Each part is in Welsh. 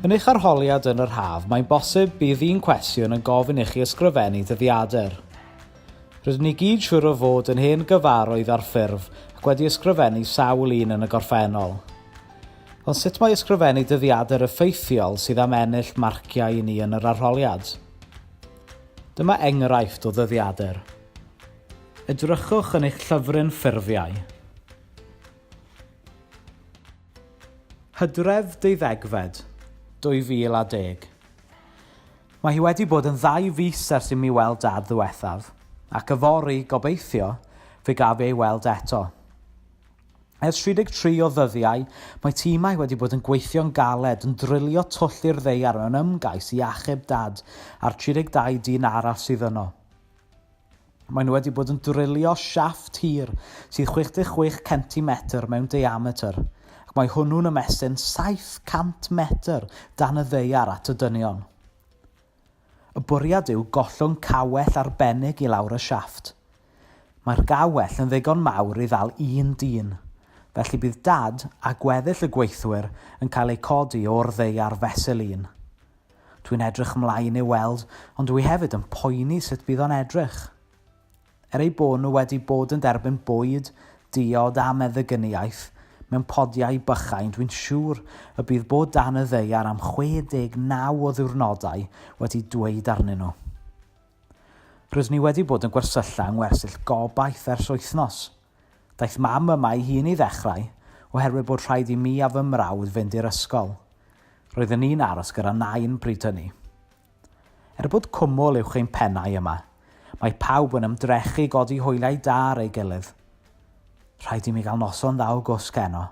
Yn eich arholiad yn yr haf, mae'n bosib bydd un cwestiwn yn gofyn i chi ysgrifennu dyddiadur. Rydyn ni gyd siŵr o fod yn hen gyfarwydd â'r ffurf ac wedi ysgrifennu sawl un yn y gorffennol. Ond sut mae ysgrifennu dyddiadur effeithiol sydd am ennill marciau i ni yn yr arholiad? Dyma enghraifft o ddyddiadur. Edrychwch yn eich llyfryn ffurfiau. Hydref, deuddegfed, 2010. Mae hi wedi bod yn ddau fis ers i mi weld Dad ddiwethaf, ac yfory, gobeithio, fe gaf ei weld eto. Ers 33 o ddyddiau, mae timau wedi bod yn gweithio'n galed yn drilio twll i'r ddaear mewn ymgais i achub Dad a'r 32 dyn arall sydd yno. Maen nhw wedi bod yn drilio siafft hir sydd 66 centimetr mewn diametr, ac mae hwnnw'n ymestyn 700 metr dan y ddaear at y dynion. Y bwriad yw gollwng cawell arbennig i lawr y siafft. Mae'r gawell yn ddigon mawr i ddal un dyn, felly bydd dad a gweddill y gweithwyr yn cael eu codi o'r ddaear fesul un. Dwi'n edrych mlaen i'w weld ond dwi hefyd yn poeni sut bydd o'n edrych. Er eu bod nhw wedi bod yn derbyn bwyd, diod a meddygyniaeth mewn podiau bychain, dwi'n siŵr y bydd bod dan y ddaear am 69 o ddiwrnodau wedi dweud arnyn nhw. Rydyn ni wedi bod yn gwersylla yng ngwersyll gobaith ers wythnos. Daeth mam yma ei hun i ddechrau, oherwydd bod rhaid i mi a fy mrawd fynd i'r ysgol. Roedden ni'n aros gyda Nain bryd hynny. Er bod cwmwl uwch ein pennau yma, mae pawb yn ymdrechu i godi hwyliau da ar ei gilydd. Rhaid i mi gael noson dda o gwsg heno.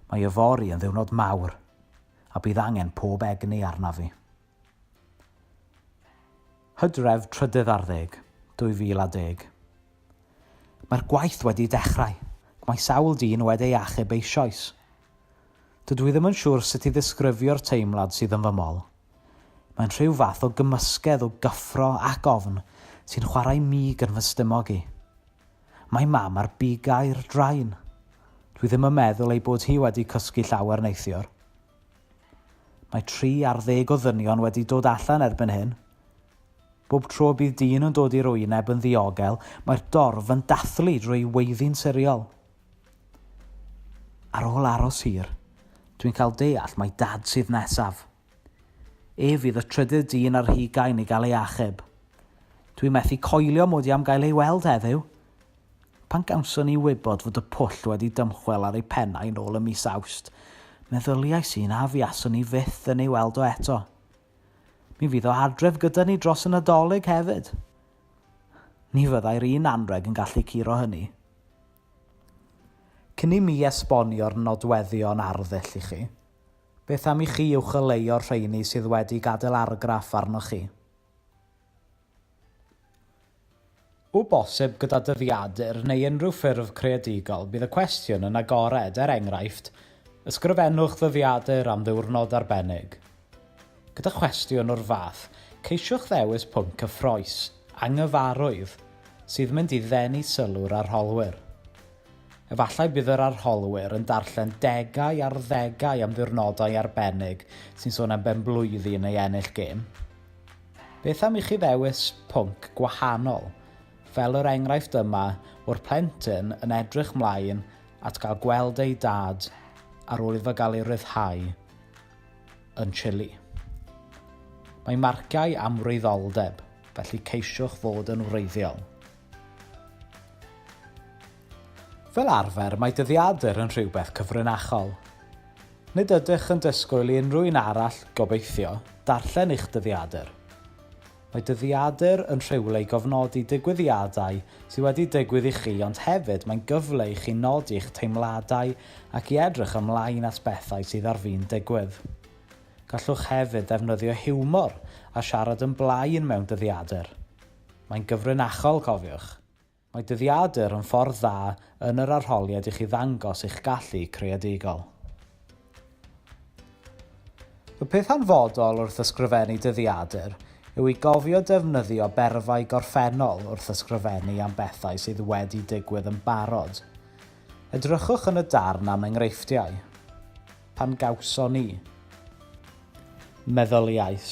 Mae yfory yn ddiwrnod mawr, a bydd angen pob egni arnaf fi. Hydref trydydd ar ddeg, 2010. Mae'r gwaith wedi dechrau, ac mae sawl dyn wedi ei achub eisoes. Dydw i ddim yn siŵr sut i ddisgrifio'r teimlad sydd yn fy mol. Mae'n rhyw fath o gymysgedd o gyffro ac ofn sy'n chwarae mig yn fy stumog i. Mae Mam ar bigau'r drain. Dwi ddim yn meddwl ei bod hi wedi cysgu llawer neithiwr. Mae tri ar ddeg o ddynion wedi dod allan erbyn hyn. Bob tro bydd dyn yn dod i'r wyneb yn ddiogel, mae'r dorf yn dathlu drwy weiddi'n siriol. Ar ôl aros hir, dwi'n cael deall mai Dad sydd nesaf. Ef fydd y trydydd dyn ar hugain i gael ei achub. Dwi methu coelio mod i am gael ei weld heddiw! Pan gawson ni wybod fod y pwll wedi dymchwel ar ei pennau nôl ym mis Awst, meddyliais i'n afiaswn i fyth yn ei weld o eto. Mi fydd o adref gyda ni dros y Nadolig hefyd. Ni fyddai'r un anrheg yn gallu curo hynny. Cyn i mi esbonio'r nodweddion arddull i chi, beth am i chi uwcholeuo'r rheini sydd wedi gadael argraff arnoch chi? O bosib gyda dyddiadur neu unrhyw ffurf creadigol, bydd y cwestiwn yn agored, er enghraifft, ysgrifennwch ddyddiadur am ddiwrnod arbennig. Gyda chwestiwn o'r fath, ceisiwch ddewis pwnc cyffrous, anghyfarwydd, sydd mynd i ddenu sylw'r arholwyr. Efallai bydd yr arholwyr yn darllen degau ar ddegau am ddiwrnodau arbennig sy'n sôn am benblwyddi neu ennill gêm. Beth am i chi ddewis pwnc gwahanol, fel yr enghraifft yma o'r plentyn yn edrych mlaen at gael gweld ei dad ar ôl iddo gael ei ryddhau yn Chile. Mae marciau amwreiddoldeb, felly ceisiwch fod yn wreiddiol. Fel arfer, mae dyddiadur yn rhywbeth cyfrinachol. Nid ydych yn disgwyl i unrhyw un arall, gobeithio, darllen eich dyddiadur. Mae dyddiadur yn rhywle i gofnodi digwyddiadau sydd wedi digwydd i chi ond hefyd mae'n gyfle i chi nodi eich teimladau ac i edrych ymlaen at bethau sydd ar fin digwydd. Gallwch hefyd ddefnyddio hiwmor a siarad yn blaen mewn dyddiadur. Mae'n gyfrinachol, cofiwch. Mae dyddiadur yn ffordd dda yn yr arholiad i chi ddangos eich gallu creadigol. Y peth hanfodol wrth ysgrifennu dyddiadur yw i gofio defnyddio berfau gorffennol wrth ysgrifennu am bethau sydd wedi digwydd yn barod. Edrychwch yn y darn am enghreifftiau. Pan gawson ni. Meddyliais.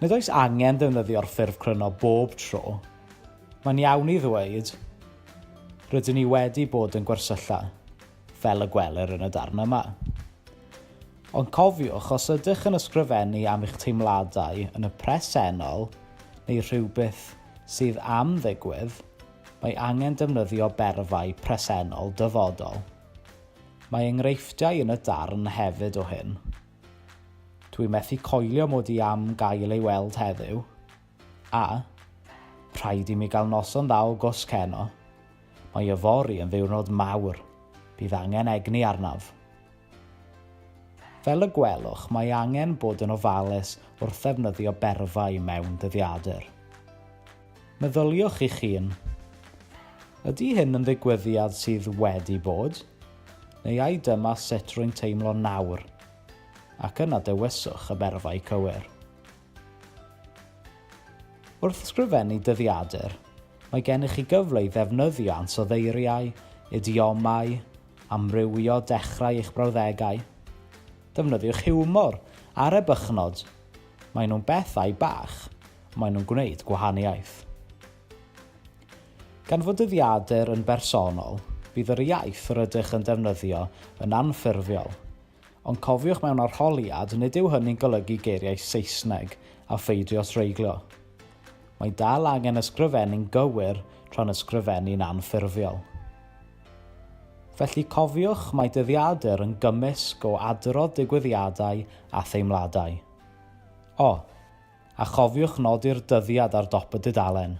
Nid oes angen defnyddio'r ffurf cryno bob tro. Mae'n iawn i ddweud, Rydyn ni wedi bod yn gwersylla, fel y gwelir yn y darn yma. Ond cofiwch, os ydych yn ysgrifennu am eich teimladau yn y presennol neu rhywbeth sydd am ddigwydd, mae angen defnyddio berfau presennol dyfodol. Mae enghreifftiau yn y darn hefyd o hyn. Dwi methu coelio mod i am gael ei weld heddiw. A, rhaid i mi gael noson dda o gwsg heno. Mae yfory yn ddiwrnod mawr. Bydd angen egni arnaf. Fel y gwelwch, mae angen bod yn ofalus wrth ddefnyddio berfau mewn dyddiadur. Meddyliwch eich hun, 'Ydy hyn yn ddigwyddiad sydd wedi bod? Neu ai dyma sut rwy'n teimlo nawr? ac yna dewiswch y berfau cywir. Wrth ysgrifennu dyddiadur, mae gennych chi gyfle i ddefnyddio ansoddeiriau, idiomau, amrywio dechrau eich brawddegau. Defnyddiwch hiwmor ar ebychnod Maen nhw'n bethau bach, ond maen nhw'n gwneud gwahaniaeth. Gan fod dyddiadur yn bersonol, bydd yr iaith rydych yn defnyddio yn anffurfiol, ond cofiwch mewn arholiad nid yw hynny'n golygu geiriau Saesneg a pheidio treiglio. Mae dal angen ysgrifennu'n gywir tra'n ysgrifennu'n anffurfiol. Felly cofiwch mai dyddiadur yn gymysg o adrodd digwyddiadau a theimladau. O! A chofiwch nodi'r dyddiad ar dop y dudalen.